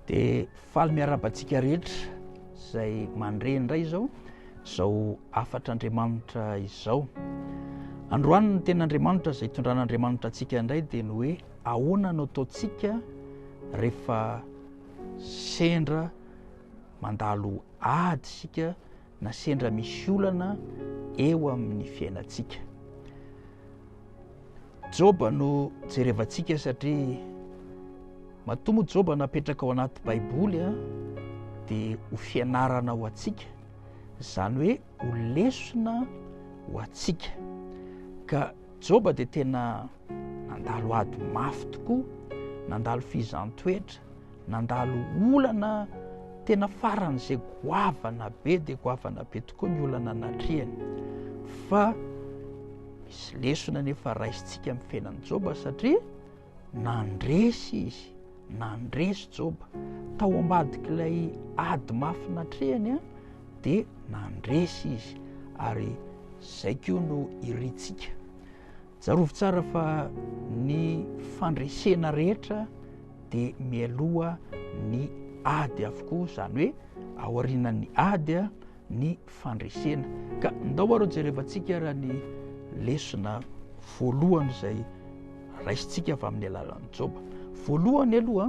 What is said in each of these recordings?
Dia faly miarahaba antsika rehetra izay mandre indray izao izao afatr'Andriamanitra izao. Androany ny tenin'Andriamanitra izay itondran'Andriamanitra antsika indray dia ny hoe Ahoana no ataontsika rehefa sendra mandalo ady isika na sendra misy olana eo amin'ny fiainantsika? Joba no jerevantsika satria matoa moa Joba napetraka ao anaty Baiboly dia ho fianarana ho antsika, izany hoe ho lesona ho antsika. Ka Joba dia tena nandalo ady mafy tokoa, nandalo fihizan-toetra, nandalo olana tena faran'izay goavana be dia goavana be tokoa ny olana natrehany. Fa misy lesona nefa raisintsika amin'ny fiainan'i Joba satria Nandresy izy, nandresy Joba. Tao ambadik'ilay ady mafy natrehany dia nandresy izy, ary izay koa no irintsika. Tsarovy tsara fa ny fandresena rehetra dia mialoha ny ady avokoa, izany hoe aorianan'ny ady ny fandresena. Ka ndao ary jerevantsika ary ny lesona voalohany izay raisintsika avy amin'ny alalan'ny Joba. Voalohany aloha,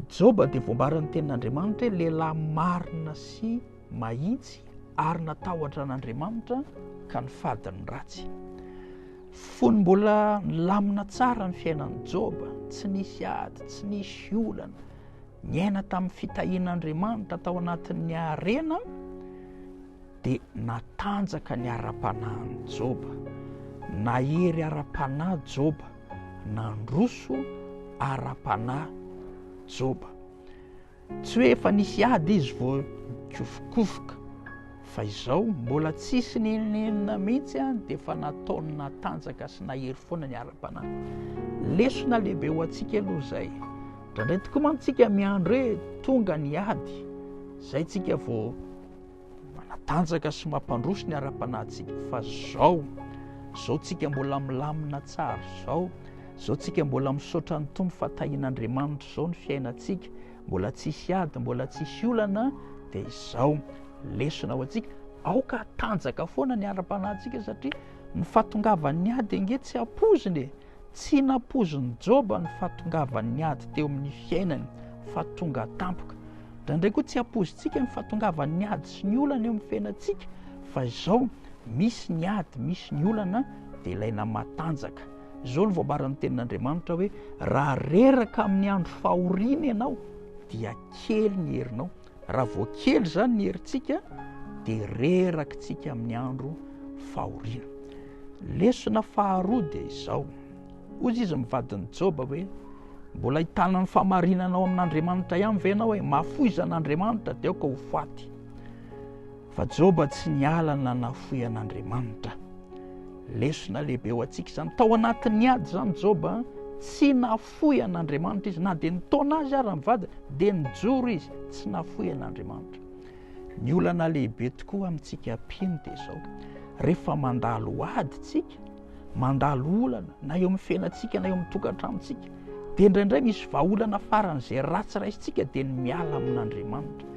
Joba dia voambaran'ny tenin'Andriamanitra hoe lehilahy marina sy mahitsy ary natahotra an'Andriamanitra ka ny fadiny ratsy. Fony mbola nilamina tsara ny fiainan'i Joba, tsy nisy ady, tsy nisy olana, niaina tamin'ny fitahian'Andriamanitra tao anatin'ny harena dia natanjaka ny ara-panahin'i Joba. Nahery ara-panahy Joba, nandroso ara-panahy Joba. Tsy hoe efa nisy ady izy vao nikofokofoka. Fa izao mbola tsisy nenenina mihitsy an, dia efa nataony natanjaka sy nahery foana ny ara-panahy. Lesona lehibe ho antsika aloha izay. Indraindray tokoa mantsy tsika miandry hoe tonga ny ady, izay tsika vao manatanjaka sy mampandroso ny ara-panahintsika. Fa izao, izao tsika mbola milamina tsara izao, izao tsika mbola misaotra ny Tompo fa tahin'Andriamanitra izao ny fiainantsika. Mbola tsisy ady, mbola tsisy olana dia izao. Lesona ho antsika, aoka hatanjaka foana ny ara-panahintsika satria ny fahatongavan'ny ady ange tsy ampoizina e. Tsy nampoizin'i Joba ny fahatongavan'ny ady teo amin'ny fiainany fa tonga tampoka. Indraindray koa tsy ampoizintsika ny fahatongavan'ny ady sy ny olana eo amin'ny fiainantsika fa izao misy ny ady, misy ny olana dia ilaina matanjaka. Izao no voambaran'ny Tenin'Andriamanitra hoe, Raha reraka amin'ny andro fahoriana ianao, dia kely ny herinao. Raha vao kely izany ny herintsika, dia rerakitsika amin'ny andro fahoriana. Lesona faharoa dia izao. Hoy izy mivadin'i Joba hoe, mbola hitanan'ny famarinanao amin'Andriamanitra ihany ve ianao hoe mahafoizan'Andriamanitra dia aoka ho faty. Fa Joba tsy niala na nafoy an'Andriamanitra. Lesona lehibe ho antsika izany. Tao anatin'ny ady izany Joba, tsy nafoy an'Andriamanitra izy. Na dia nitaona azy ary ny vadiny, dia nijoro izy, tsy nafoy an'Andriamanitra. Ny olana lehibe tokoa amintsika mpino dia izao, rehefa mandalo ady isika, mandalo olana na eo amin'ny fiainantsika na eo amin'ny tokantranontsika dia indraindray misy vahaolana faran'izay ratsy raisintsika dia ny miala amin'andriamanitra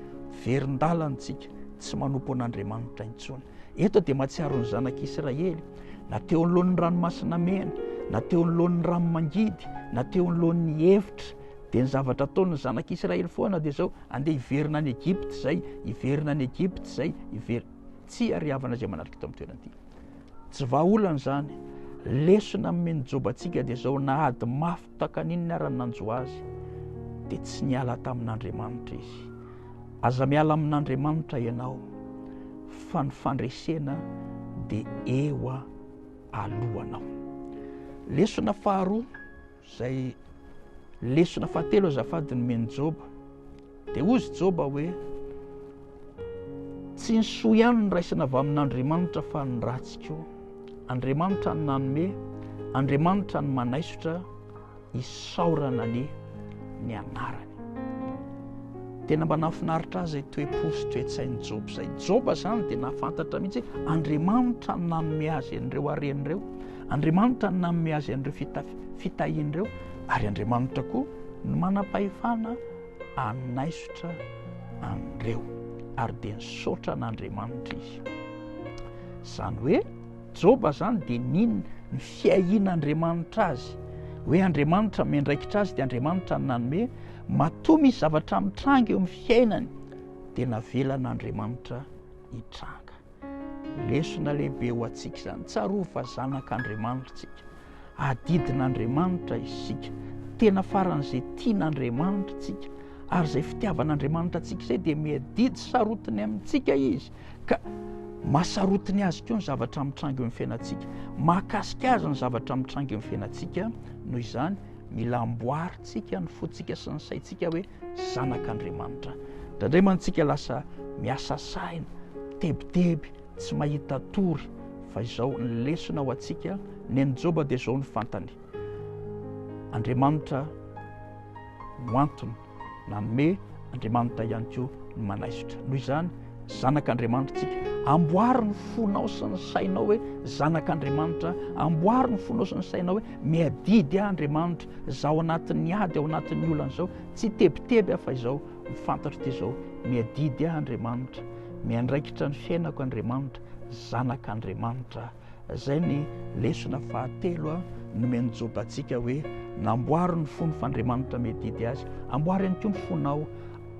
verin-dalantsika tsy manompo an'andriamanitra intsony eto dia matsiaro ny zanak'israely na teo anoloan'ny ranomasina mena na teo anoloan'ny ranomangidy na teo anoloan'ny hevitra dia ny zavatra ataon'ny zanak'israely foana dia zao andeha hiverina any egypta izay hiverina any egypta izay hiverina tsy ariavana izay manatrika tao amin'ny toerana ity Tsy vahaolana izany. Lesona amin'ny mini-jobantsika dia izao, na ady mafy takaninona ara ny nanjo azy, dia tsy niala tamin'Andriamanitra izy. Aza miala amin'Andriamanitra ianao, fa ny fandresena dia eo alohanao. Lesona faharoa, Izay lesona fahatelo azafady nomen'i Joba. Dia hoy izy Joba hoe tsy ny soa ihany no raisina avy amin'Andriamanitra fa ny ratsy koa. Andriamanitra ny nanome, Andriamanitra ny manaisotra isaorana ny ny anarany. Tena mba nahafinaritra azy toe-po sy toe-tsain'i Joba izay. Joba izany dia nahafantatra mihitsy Andriamanitra ny nanome azy an'ireo harena ireo Andriamanitra no nanome azy an'ireo fitahiana ireo, ary Andriamanitra koa no manam-pahefana hanaisotra an'ireo, ary dia nisaotra an'Andriamanitra izy. Izany hoe Joba izany dia nino ny fiahian'Andriamanitra azy, hoe Andriamanitra miandraikitra azy, dia Andriamanitra no nanome, matoa misy zavatra mitranga eo amin'ny fiainany, dia navelan'Andriamanitra hitranga. Lesona lehibe ho antsika izany. Tsarovy fa zanak'Andriamanitra isika. Adidin'Andriamanitra isika. Tena faran'izay tian'Andriamanitra isika. Ary izay fitiavan'Andriamanitra antsika izay dia miadidy sarotiny amintsika izy. Ka masarotiny azy koa ny zavatra mitranga eo amin'ny fiainantsika. Mahakasika azy ny zavatra mitranga eo amin'ny fiainantsika. Noho izany, mila amboarintsika ny fontsika sy ny saintsika hoe Zanak'Andriamanitra. Indraindray mantsy isika lasa miasa saina, tebiteby, tsy mahita tory, fa izao ny lesona ho antsika, ny an'i Joba dia izao no fantany, Andriamanitra no antony nanome, Andriamanitra ihany koa no manaisotra. Noho izany, zanak'Andriamanitra tsika, amboary ny fonao sy ny sainao hoe zanak'Andriamanitra, amboary ny fonao sy ny sainao hoe miadidy ahy Andriamanitra, Za ao anatin'ny ady, ao anatin'ny olana izao, tsy tebiteby aho fa izao no fantatro dia izao, miadidy aho Andriamanitra, miandraikitra ny fiainako Andriamanitra, zanak'Andriamanitra aho. Izay ny lesona fahatelo a, nomen'i Joba antsika hoe, namboary ny fony f'Andriamanitra miadidy azy. Amboary ihany koa ny fonao,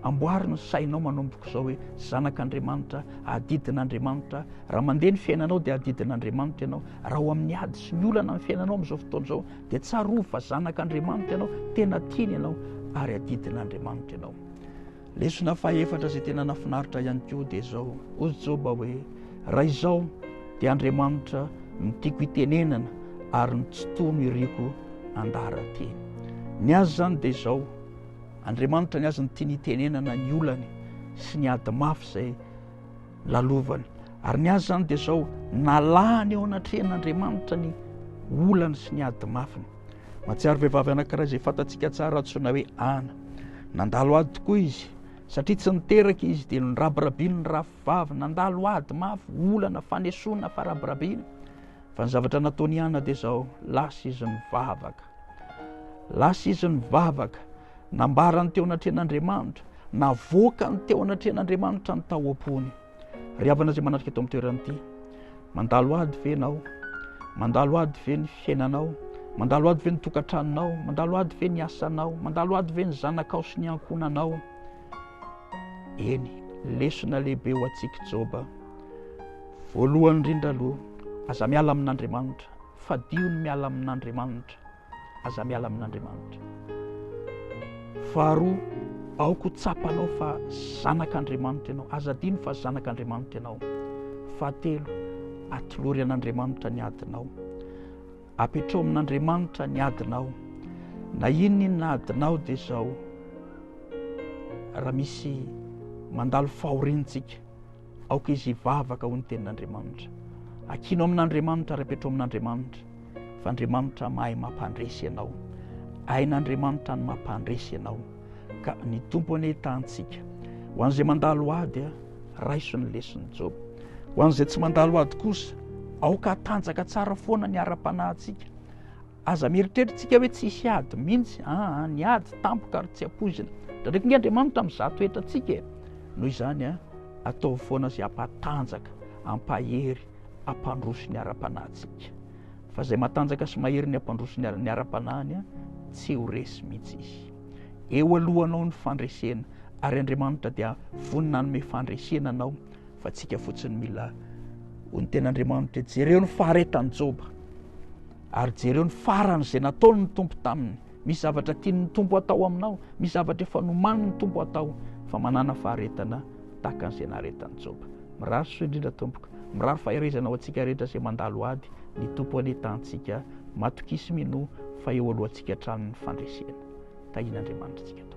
amboary ny sainao manomboka izao hoe, zanak'Andriamanitra aho, adidin'Andriamanitra aho. Raha mandeha ny fiainanao dia adidin'Andriamanitra ianao, raha ao amin'ny ady sy ny olana ny fiainanao amin'izao fotoana izao Dia tsarovy fa zanak'Andriamanitra ianao, tena tiany ianao ary adidin'Andriamanitra ianao. Lesona fahefatra izay tena nafinaritra ihany koa dia izao, hozy Joba hoe, raha izao dia Andriamanitra no tiako itenenana ary ny tsy toa no iriko andara-teny. Ny azy izany dia izao, Andriamanitra ny azy no tiany itenenana ny olany sy ny ady mafy izay lalovany. Ary ny azy izany dia izao, nalahany eo anatrehan'Andriamanitra ny olany sy ny ady mafiny. Mahatsiaro vehivavy anankiray izay fantatsika tsara antsoina hoe Ana. Nandalo ady tokoa izy. Satria tsy niteraka izy dia norabirabiny ny rahavavy. Nandalo ady mafy, olana, fanesoana, farabirabina. Fa ny zavatra nataony Ana dia izao, lasa izy nivavaka. Lasa izy nivavaka. Nambarany teo anatrehan'Andriamanitra, navoakany teo anatrehan'Andriamanitra ny tao am-pony. Ry havana izay manatrika eto amin'ny toerana ity, mandalo ady ve ianao? Mandalo ady ve ny fiainanao? Mandalo ady ve ny tokantranonao? Mandalo ady ve ny asanao? Mandalo ady ve ny zanakao sy ny ankohonanao? Eny, lesona lehibe ho antsika Joba. Voalohany indrindra aloha, aza miala amin'Andriamanitra. Fadio ny miala amin'Andriamanitra. aza miala amin'Andriamanitra. Faharoa, aoka ho tsapanao fa zanak'Andriamanitra ianao, aza adino fa zanak'Andriamanitra ianao. Fahatelo, atolory an'Andriamanitra ny adinao. Apetraho amin'Andriamanitra ny adinao. Na inona inona adinao dia izao, raha misy mandalo fahoriantsika, Aoka izy hivavaka ho ny tenin'Andriamanitra. Akino amin'Andriamanitra ary apetro amin'Andriamanitra fa Andriamanitra mahay mampandresy ianao. Hain'Andriamanitra ny mampandresy ianao. Ka ny Tompo anie tahantsika. Ho an'izay mandalo ady, raiso ny lesin'i Joba. Ho an'izay tsy mandalo ady kosa, aoka hatanjaka tsara foana ny ara-panahintsika. Aza mieritrerittsika hoe tsy hisy ady mihitsy aa, ny ady tampoka ary tsy ampoizina. Ndradraiky nge Andriamanitra amin'ny izato hetra antsika e! Noho izany a, ataovy foana izay hampatanjaka, hampahery, hampandroso ny ara-panahintsika. Fa izay matanjaka sy mahery ny hampandroso ny ny ara-panahiny a, tsy ho resy mihitsy izy. Eo alohanao ny fandresena, ary Andriamanitra dia vonona hanome fandresena anao, fa antsika fotsiny mila. Hoy ny Tenin'Andriamanitra, jereo ny faharetan'i Joba. Ary jereo ny farany izay nataony ny Tompo taminy. Misy zavatra tiany ny Tompo atao aminao, misy zavatra efa nomaniny ny Tompo atao, fa manana faharetana tahaka an'izay naharetan'i Joba. Mirary soa indrindra tompoko. Mirary faherezana ho antsika rehetra izay mandalo ady. Ny Tompo anie tahantsika. Matokisa minoa fa eo alohantsika hatrany ny fandresena. Tahian'Andriamanitra antsika tompoko.